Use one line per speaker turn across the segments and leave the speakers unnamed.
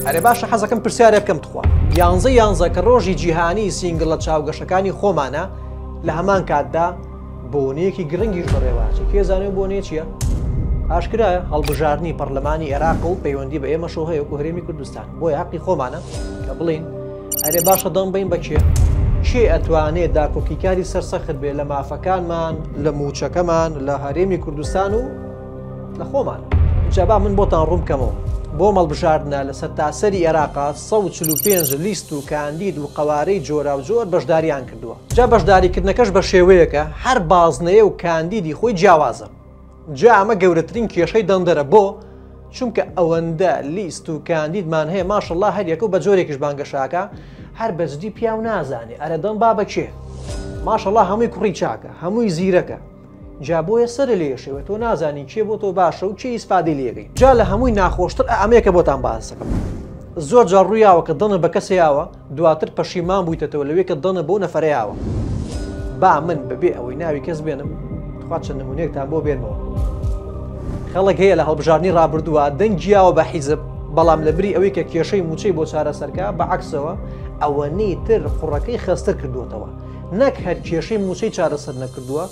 ئەرێ باشە حەزەکەم پرسیارێ بکەم تخوا یانزە یانزە کە ڕۆژی جیهانی سینگل لە چاوگەشەکانی خۆمانە لە هەمان کاتدا بۆنەیەکی گرنگیش بەڕێواچی کێزانێ بۆنێ چییە؟ ئاشکرایە هەڵبژاردننی پەرلەمانی عێراق و پەیوەندی بە ئێمە شەوهەیە و هەرێمی کوردستان بۆی حقی خۆمانە کە بڵین ئەرێ باشە دەم بین بەچێ چێ ئەتوانێت داکۆکیکاری سەرسەخت بێ لە مافەکانمان لە موچەکەمان لە هەرێمی کوردستان و لە خۆمان جا با من بۆتان ڕوون بکەمەوە بۆ مەڵبژاردنە لە سەرتاسەری عێراقا 145 لیست و کاندید و قەوارەی جۆرا و جۆر بەشداریان کردووە جا بەشداریکردنەکەش بە شێوەیەکە هەر بازنەیە و کاندیدی خۆی جیاوازە جا ئەمە گەورەترین کێشەی دەنگدەرە بۆ چونکە ئەوەندە لیست و کاندیدمان هەیە ماشەڵڵا هەریەکە و بە جۆرێکیش بانگەشاکە هەر بەجدی پیاو نازانێ ئەرە دەم با بەکێ ماشەڵڵا هەمووی کوڕی چاکە هەمووی زیرەکە جا بۆیە سەرێ لێ ئێشێوە تۆ نازانی کێ بۆ تۆ باشە و کێ ئیسفادەی لێ ئەکەی جا لە هەمووی ناخۆشتر ئا ئەمەیە کە بۆتان باس دەکەم زۆر جار ڕووی یاوە کە دڵت بە کەسێ یاوە دواتر پەشیمان بوویتەتەوە لەوەی کە دڵت بەو نەفەرە یاوە با من بەبێ ئەوەی ناوی کەس بێنم تخوا چەند نموونەیەکتان بۆ بێنمەوە خەڵک هەیە لە هەڵبژاردنی ڕابردووە دەنگی یاوە بە حیزب بەڵام لە بری ئەوەی کە کێشەی مووچەی بۆ چارەسەرکە بە عەکسەوە ئەوەنەی تر قوڕەکەی خەستتر کردووەتەوە نەک هەر کێشەی مووچەی چارەسەر نەکردووە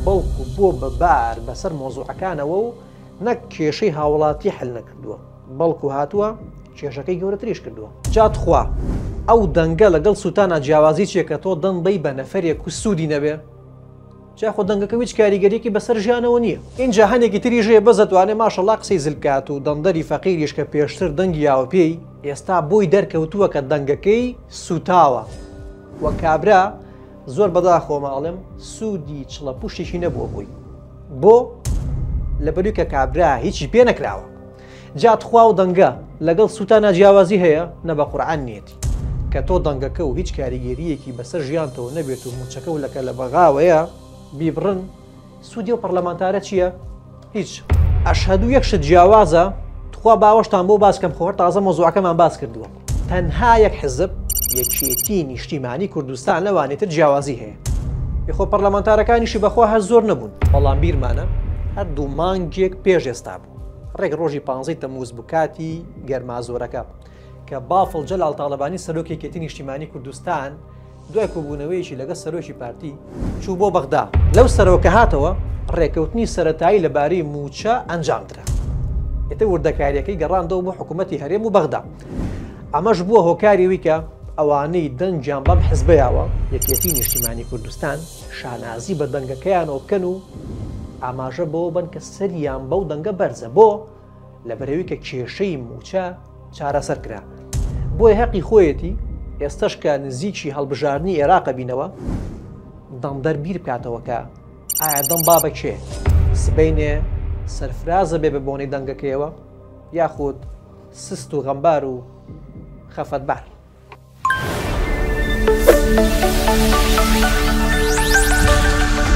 بەڵکو بۆ بە بار بەسەر مۆزوعەکانەوە و نەک کێشەی هاوڵاتی حل نەکردووە بەڵکو هاتووە کێشەکەی گەورەتریش کردووە جاتخوا ئەو دەنگە لەگەڵ سووتانە جیاوازی چێکە تۆ دەم بەی بە نەفرێک و سوودی نەبێ جاخۆ دەنگەکە هیچ کاریگەریکی بەسەر ژیانەوە نییە این جاهانێکی تری ژێ بەزتوانێ ماشەڵا قسەی زلکات و دەندەری فەقیریش کە پێشتر دەنگیاوە پێی ئێستا بۆی دەرکەوتووە کە دەنگەکەی سوتاوە وە کابرا زۆر بەداخۆمە ئەڵێم سوودی چڵە پوشتێکی نەبووە بووی بۆ لەبەری کە کابرا هیچی پێ نەکراوە جات خوا و دەنگە لەگەڵ سووتا ناجیاوازی هەیە نە بە قورعان نیەتی کە تۆ دەنگەکە و هیچ کاریگەریەکی بەسەر ژیانتەوە نەبێت و موچەکە و لەکە لە بەغاوەیە بیبڕن سودی ئەو پەڕلەمانتارە چیە هیچ. ئەشهەدوو یەک شت جیاوازە تخوا باوەشتان بۆ باس کەم خۆر تازە مۆزوعەکەمان باس کردووە تەنها یەک حزب یەکێتی نیشتیمانی کوردستان لەوانی تر جیاوازی هەیە یخۆ پەرلەمانتارەکانیشی بەخوا هەر زۆر نەبوون بەڵام بیرمانە هەر دوو مانگێک پێش ئێستا بوو ڕێک ڕۆژی پانزەی تەموز بکاتی گەرمازۆرەکە کە بافڵ جەلال تاالبانی سەرۆکێکێتی نیشتیمانی کوردستان دوای کۆبوونەوەیەکی لەگەڵ سەرۆکی پارتی چوو بۆ بەغدا لەو سەرەوە کە هاتەوە ڕێکەوتنی سەتایی لەبارەی موچە ئەنجامدرا ئێتە وردەکاریەکەی گەڕاندەوە بۆ حکوومەتتی هەرێم و بەغدا ئەمەش بووە هۆکاریەوەی کە ئەوانەی دەنگیان بەم حزبیاوە یەکێتی نیشتیمانی کوردستان شانازی بە دەنگەکەیانەوە بکەن و ئاماژە بەوە بن کە سەریان بەو دەنگە بەرزە بۆ لەبەرەوەی کە کێشەی موچە چارەسەر کرا بۆی هەقی خۆیەتی ئێستش کە نزیکی هەڵبژاردننی عێراقە بینەوە دەمدەر بیر بکاتەوەکە ئایا دەم با بە کێ سبینێ سەرفرازە بێ بە بۆنەی دەنگەکەیەوە یاخود سست و غەمبار و خەفەتبار. Thank you.